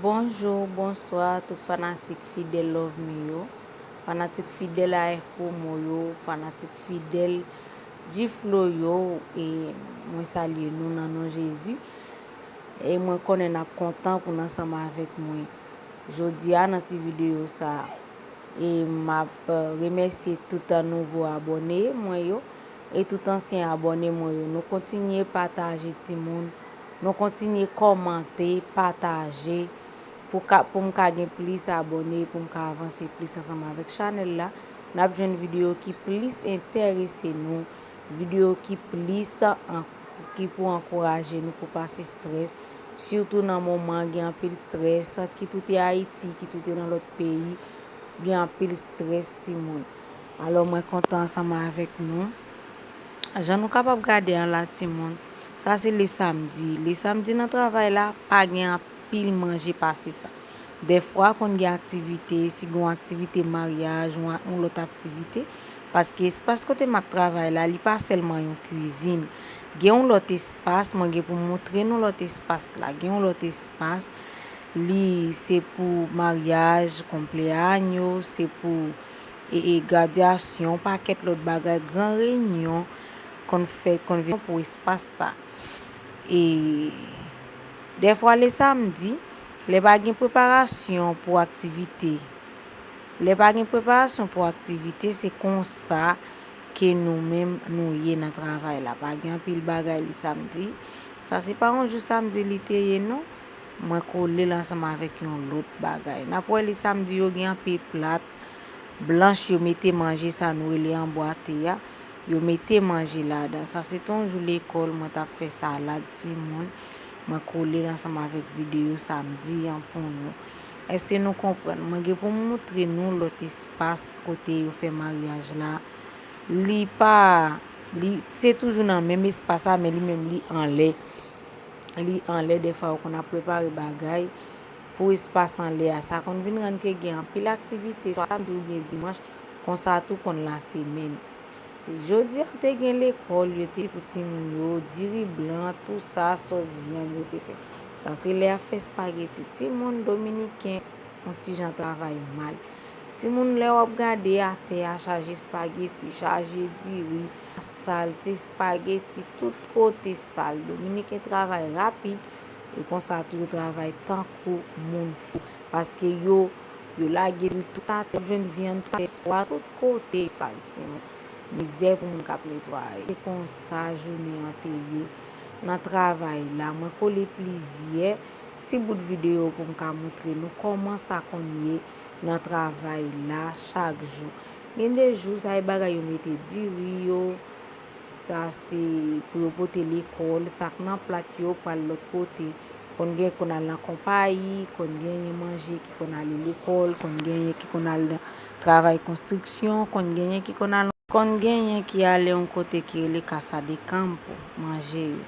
Bonjour bonsoir tout fanatik fidèl lovemy yo fanatik fidèl AF promo yo fanatik fidèl G-Flow yo e mwen salye nou nan non Jezi e mwen konnen nap kontan pou n ansanm avèk mwen jodia nan ti videyo sa e map remèsye tout nouvo abòne mwen yo e tout ansyen abòne mwen yo nou kontinye pataje timoun nou kontinye kòmante pataje pou ka poum ka gen plis abòne poum ka avanse plis ansanm avèk chanèl la nap jwenn video ki plis entèrese nou video ki plis ki pou ankouraje nou pou pase strès sitou nan moman gen anpil strès ki toute ayiti ki toute nan lòt peyi gen anpil strès timoun. Alò mwen kontan ansanm avèk nou. Jan nou kapab gade an la timoun, sa se le samdi. Le samdi nan travay la, pa gen anpil manje pase sa. Dèfwa konn gen aktivite, si gen yon aktivite maryaj, yon lòt aktivite. Paske espas kote m ap travay la, li pa sèlman yon kwizin. Gen yon lòt espas, mwen gen pou m montre nou lòt espas la. Gen yon lòt espas, li se pou maryaj, konpleanyo, se pou. gradyasyon, yon pakèt lòt bagay, gran reyinyon konn fèt, konn vin pou espas sa. E dèfwa le samdi, lè pa gen preparasyon pou aktivite, lè pa gen preparasyon pou aktivite, se konsa ke nou menm nou ye nan travay la. Pa gen anpil bagay le samdi. Sa se pa yon jou samdi li te ye non. Mwen kolel ansanm avek yon lot bagay. Nap wè li samdi yo gen anpil plat blanch yo mete manje sa nou rele anbwate a yo mete manje ladan sa se te yon jou lekol mwen tap fè salad timoun mwen kolel ansanm avek video samdi an pou nou eske nou konprann mwen gen poum moutre nou lot espas kote yo fè maryaj la li pa li se toujou nan menm espas la men li menm li anlè li anlè defa ou konn ap prepare bagay pou espas anlè a sa konn vin rann ke gen anpil aktivite swa samdi ou byen dimanch konsa tou konn lasemèn jodi a te gen lekòl yo te pou timoun yo diri blan tou sa sòs vyann yo te fè sa se lè yap fè spageti timoun dominiken yon ti jan travay mal timoun lè wap gade atè a chaje spageti chaje diri. Salte spaghetti tout kote sal. Dominiken travay rapid e konsa tou yo travay tankou moun fou. Paske yo yo lage dri tout atè yo jwenn vyann tout atè swa tout kote yo sal timoun. Mizè pou moun kap netwaye. Se konsa jounen an te ye nan travay la. Mwen kole plizyè ti bout videyo poum ka moutre nou kòman sa konn ye nan travay la chak jou. Gen de jou sa e bagay yo mete diri yo, sa se pou yo pote lekòl, sa k nan plat yo pral lòt kote. Konn gen konn al nan konpayi, konn genyen manje ki konn ale lekòl, konn genyen ki konn al nan travay konstriksyon, konn genyen ki konn al. Konn genyen ki ale yon kote ki rele Casa de Campo, manje yo.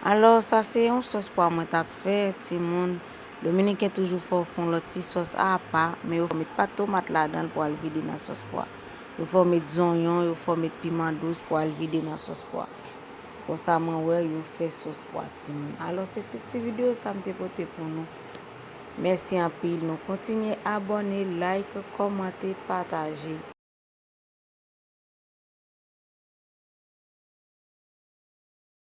Alò sa se yon sòs pwa mwen t ap fè, timoun. Dominiken toujou fè w fon lòt ti sòs a apa, men yo fè w met pat tomat ladan l pou al vide nan sòs pwa. Yo fè w met zonyon, yo fè w met piman dous pou al vide nan sòs pwa. Konsa mwen wè yo fè sòs pwa timoun. Alò se tout ti video sa m te pote pou nou. Mèsi anpil nou kontinye abòne, like, kòmante, pataje.